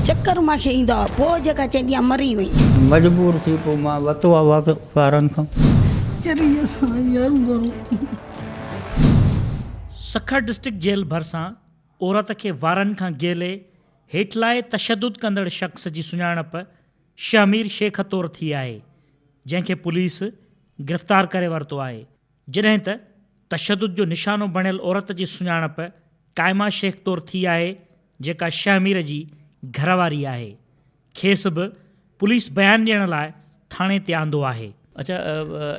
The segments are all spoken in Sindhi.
چڪر مان کي ايندا هئا پوء جيڪا چيندي هئا مري وئي. مجبور ٿي پوء مان وتو آ وارن کان. چريء سان يارو ڀرو. سکر ڊسٽرڪٽ جيل ڀرسان عورت کي وارن کان گيلي هيٺلائي تشدد ڪندڙ شخص جي سڃاڻپ شهمير شيخ طور ٿي آهي جنهن کي پوليس گرفتار ڪري ورتو آهي جڏهن ته تشدد جو نشانو بڻيل عورت جي سڃاڻپ قائمه شيخ طور ٿي آهي جيڪا شهمير جي گهرواري آهي کيس به پوليس بيان ڏيڻ لاء ٿاڻي تي آندو آهي. اچا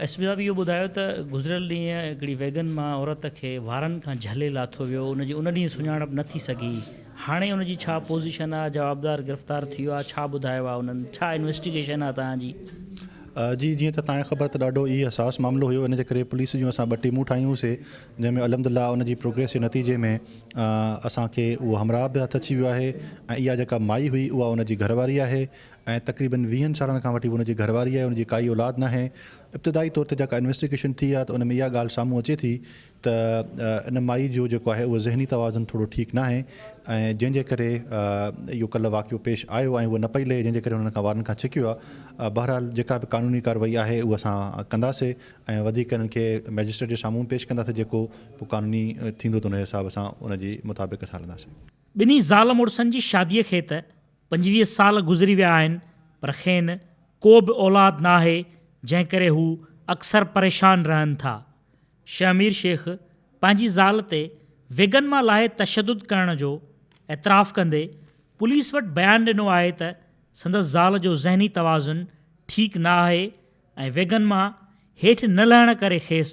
ايس پي صاحب اهو ٻڌايو ته گذريل ڏينهن هڪڙي ويگن مان عورت کي وارن کان جهلي لاٿو ويو ان جي ان ڏينهن سڃاڻپ نه ٿي سگهي هاڻي ان جي ڇا پوزيشن آهي جوابدار گرفتار ٿي ويو آهي ڇا ٻڌايو آهي انهن ڇا انويسٽيگيشن آهي توهان جي. جي جيئن ته توهان کي خبر ته ڏاڍو ئي حساس معاملو هيو ان جي ڪري پوليس جون اسان ٻه ٽيمون ٺاهيون سي جنهن ۾ الحمد لله ان جي پروگريس جي نتيجي ۾ اسان کي اهو همراهه به هٿ اچي ويو آهي ۽ اها جيڪا مائي هئي اها ان جي گهرواري آهي ۽ تقريبن ويهن سالن کان وٺي هو ان جي گهرواري آهي ان جي ڪائي اولاد ناهي ابتدائي طور تي جيڪا انويسٽيگيشن ٿي آهي ته ان ۾ اها ڳالهه سامهون اچي ٿي ته ان مائي جو جيڪو آهي اهو ذهني توازن ٿورو ٺيڪ ناهي ۽ جنهن جي ڪري اهو ڪلهه واقعو پيش آيو ۽ هوء نه پئي لهي جنهن جي ڪري هن کان وارن کان ڇڪيو آهي بهرحال جيڪا به قانوني ڪارروائي آهي اهو اسان ڪنداسي ۽ وڌيڪ انهن کي مئجسٽريٽ جي سامهون پيش ڪنداسين جيڪو پوء قانوني ٿيندو ته ان جي حساب سان ان جي مطابق اسان هلنداسين. ٻنهي زال مڙسن جي شاديء کي ته پنجويهه سال گذري ويا آهن پر کين ڪو به اولاد نه آهي جنهن ڪري هو اڪثر پريشان رهن ٿا. شهمير شيخ پنهنجي زال تي ويڳن مان لاهي تشدد ڪرڻ جو اعتراف ڪندي پوليس وٽ بيان ڏنو آهي ته سندس زال جو ذهني توازن ٺيڪ نه آهي ۽ ويگن مان هيٺ نه لهڻ ڪري کيس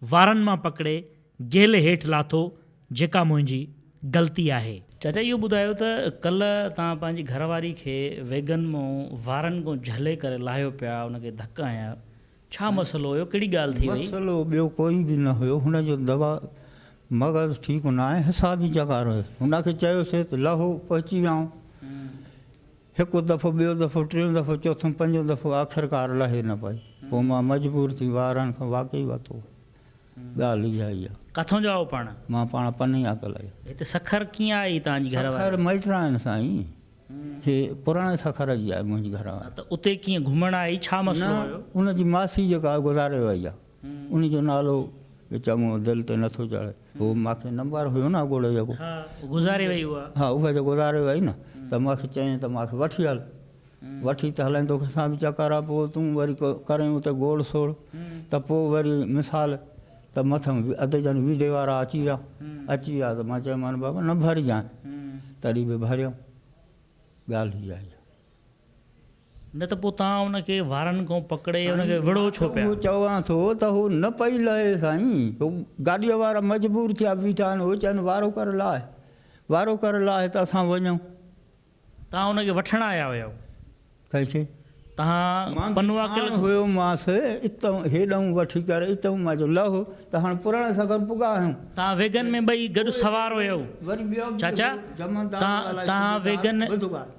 وارن مان پڪڙي گيل هيٺ لاٿو جيڪا منهنجي غلطي آهي. چاچا اهو ٻڌايو ته ڪلهه توهان پنهنجي گهر واري کي ويگن مون وارن ڪون جهلي ڪري لاهيو پيا ان کي ڌڪ هنيا آهيو ڇا مسئلو هيو ڪهڙي ڳالهه ٿي وئي؟ مسئلو ٻيو ڪوئي به نه هيو هن جو دوا مغز ٺيڪ ناهي حساب ئي چڪار هيس هن کي چيوسي ته لهو پهچي ويائون. هڪ دفعو، ٻيو دفعو، ٽيون دفعو، چوٿون، پنجون دفعو، آخرڪار لهي نه پئي. پوء مان مجبور ٿي وارهن کان واقعي وتو. ڳالهه اها ئي آ. ڪٿون جا آهو پاڻ؟ مان پاڻ پنهي آ ڪلهه جا. هتي سکر ڪيئن آئي توهان جي گهر واري؟ سکر مئٽ آهن سائين. هي پراڻي سکر جي آهي منهنجي گهر واري. ته اتي ڪيئن گهمڻ آئي ڇا مسئلو هيو؟ نه ان جي ماسي جيڪا آهي گذاري وئي آ. ان جو نالو به چڱو دل تي نٿو چڙهي. هو ماکي نمبر هيو نه اڳوڻو جيڪو. ها گذاري وئي اها. ها اها جو گذاري وئي نه ته ماکي چيائين ته ماکي وٺي هل. وٺي ته هلين توکي سان به چڪر آ پوء تون وري ڪرين اتي گوڙ سوڙ ته پوء وري مثال ته مٿن اڌ جن ويڍي وارا اچي ويا. اچي ويا ته مان چيمان بابا نه ڀرجانء. تڏهن به ڀريم. ڳالهه هيء آهي. نه ته پوء توهان ان کي وارن کان پڪڙي ان کي وڙهو ڇو پيا؟ سائين مان ته اهو چوان ٿو ته هو نه پئي لهي سائين. هو گاڏيء وارا مجبور ٿيا بيٺا آهن. هو چين وارو ڪر لاهه. وارو ڪر لاهه ته اسان وڃون. توهان ان کي وٺڻ آيا هيؤ. ڪنهن کي؟ توهان مان به پنواڪل ساڻ کي. هيومانس اتئون هيڏئون وٺي ڪر اتئون. مان چيو لهه ته هاڻ پراڻي سگهر پڳا آهيون. توهان ويگن ۾ ٻئي گڏ سوار هيؤ. وري ٻيو به چاچا! هو جمعدار توهان ڳالهائي توهان ڇڏيو ته ويگن. ٻڌ ڳالهه.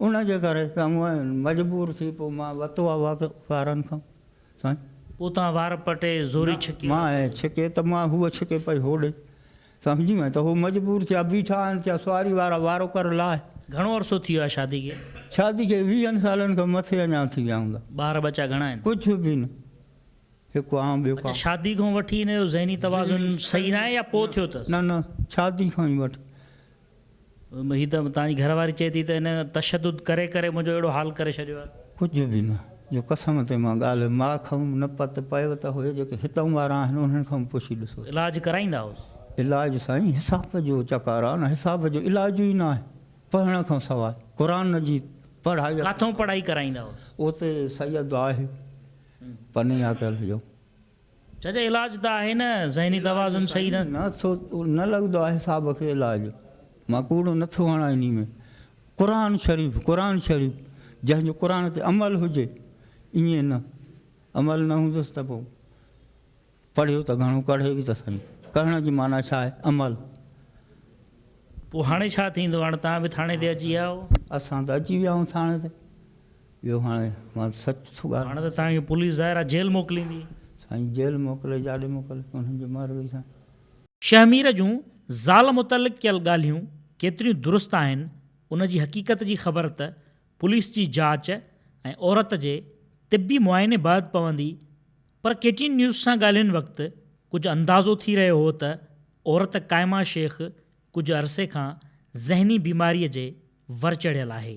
ان جي ڪري چڱو مجبور ٿي پوء مان وتو آ واڪ وارن کان سائين. پوء توهان وار پٽي زوري ڇڪي مان ۽ ڇڪي ته مان هوء ڇڪي پئي هوڏي سمجهي وئين ته هو مجبور ٿيا بيٺا آهن ٿيا سواري وارا وارو ڪر لاهي. گهڻو عرصو ٿي ويو آهي شادي کي؟ شادي کي ويهن سالن کان مٿي اڃا ٿي ويا هوندا. ٻار ٻچا گهڻا آهن؟ ڪجهه به نه هڪ آئون ٻيو ڪا. اچا شادي کان وٺي هن جو ذهني توازن صحيح ناهي يا پوء ٿيو اٿس؟ نه نه شادي کان ئي وٺي هي ته توهان جي گهر واري چئي ٿي ته هن تشدد ڪري ڪري منهنجو اهڙو حال ڪري ڇڏيو آهي. ڪجهه به نه، جو قسم تي مان ڳالهه ماء کانئون نه پت پيو ته هي جيڪي هتئون وارا آهن انهن کان به پڇي ڏسو. علاج ڪرائيندا هئس. علاج سائين حساب جو چڪاران حساب جو علاج ئي ناهي پڙهڻ کان سواء قرآن جي پڙهائي. ڪاٿئون پڙهائي ڪرائيندا هئس. اوتي سيد آهي پني آڪل جو. چئجي علاج ته آهي نه ذهني توازن صحيح نه. نه ٿو نه لڳندو آهي صاحب کي علاج مان ڪوڙو نه ٿو هڻان انهي ۾ قرآن شريف قرآن شريف جنهن جو قرآن تي عمل هجي ائين نه عمل نه هوندس ته پو پڙهيو ته گهڻو ڪڙهي به ته سهي ڪڙهڻ جي معنيٰ ڇا آهي عمل. پو هاڻي ڇا ٿيندو هاڻي توهان به ٿاڻي تي اچي ويا آهو. اسان ته اچي ويا آهيون ٿاڻي تي اهو هاڻي مان سچ ٿو ڳالهيان. هاڻي ته توهان کي پوليس ظاهر آهي جيل موڪليندي. سائين جيل موڪلي جاڏي موڪلي انهن جي مهر هئي سائين. شهمير جون زال متعلق ڪيل ڳالهيون ڪيتريون درست آهن ان جي حقيقت جي خبر ته پوليس جي جاچ ۽ عورت جي طبي معائني بعد پوندي پر ڪي ٽي اين نيوز سان ڳالهين وقت ڪجهه اندازو ٿي رهيو هو ته عورت قائمه شيخ ڪجهه عرصي کان ذهني بيماري جي ور چڙهيل آهي.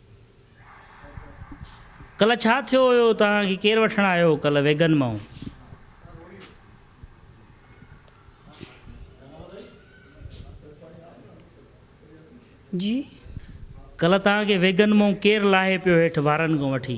ڪلهه ڇا ٿيو هيو توهان کي ڪير وٺڻ آيو هو ڪلهه ويگن مئون. جي. ڪلهه توهان کي ويگن مئون ڪير لاهي پيو هيٺ وارن کان وٺي.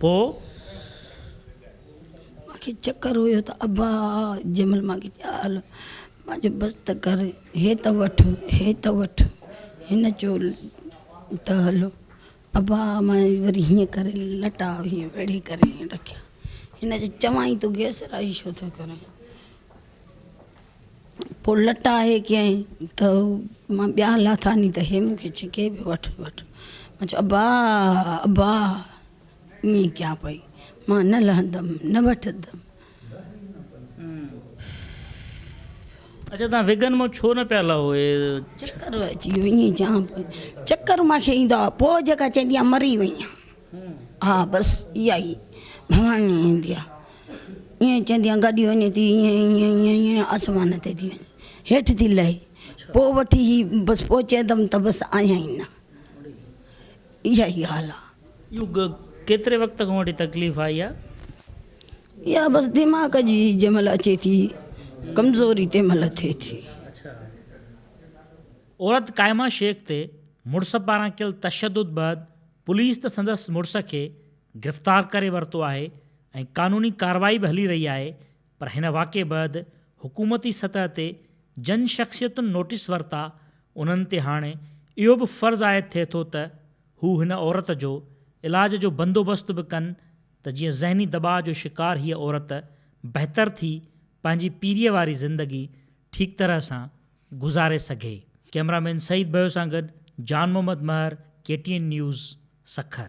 پوء؟ مان کي چڪر هيو ته ابا جمل مان کي چيو هل مان جو بس ته ڪر هي ته وٺ هي ته وٺ هن چيو ته هل ابا مان وري هيئن ڪري لٽا هيئن ويڙهي ڪري رکيا هن چيو چوان ئي ٿو گيس رائي ڇو ٿو ڪرين. پوء لٽ آهي ڪيئن ته مان ٻيان لاٿاني ته هي مون کي ڇڪي پيو وٺ وٺ مان چيو ابا ابا ائين ڪيان پئي مان نه لهندم نه وٺندم اچا تان وگن مون ڇو نه پيا لهو اي چڪر اچي ويو ائين چيان پئي چڪر مان کي ايندا هئا پوء جيڪا چيندي آ مري وئي آ ها بس اها ئي ڀواني ايندي آ ائين چيندي آ گڏي وڃي ٿي ائين ائين ائين آسمان تي ٿي وڃي هيٺ ٿي لهي پوء وٺي هي بس پوء چيندم ته بس آيان ئي نه اها ئي حال آ. اهو ڪيتري وقت کان وٺي تڪليف آئي آ؟ اها بس دماغ جي جنهن مهل اچي ٿي ڪمزوري تنهن مهل ٿئي ٿي. عورت قائمه شيخ تي مڙس پاران ڪيل تشدد بعد پوليس ته سندس مڙس کي گرفتار ڪري ورتو آهي ۽ قانوني ڪارروائي به هلي رهي آهي پر هن واقعي بعد حڪومتي سطح تي جن شخصيتن نوٽيس ورتا انهن تي هاڻي اهو به فرض عائد ٿئي ٿو ته هو هن عورت جو علاج جو بندوبست به ڪن ته جيئن ذهني دٻاء جو شڪار هيء عورت بهتر ٿي پنهنجي پيريء واري زندگي ٺيڪ طرح سان گذاري سگهي. ڪئميرا مين سعيد ڀيو سان گڏ Jan Muhammad Mahar K T N news Sukkur.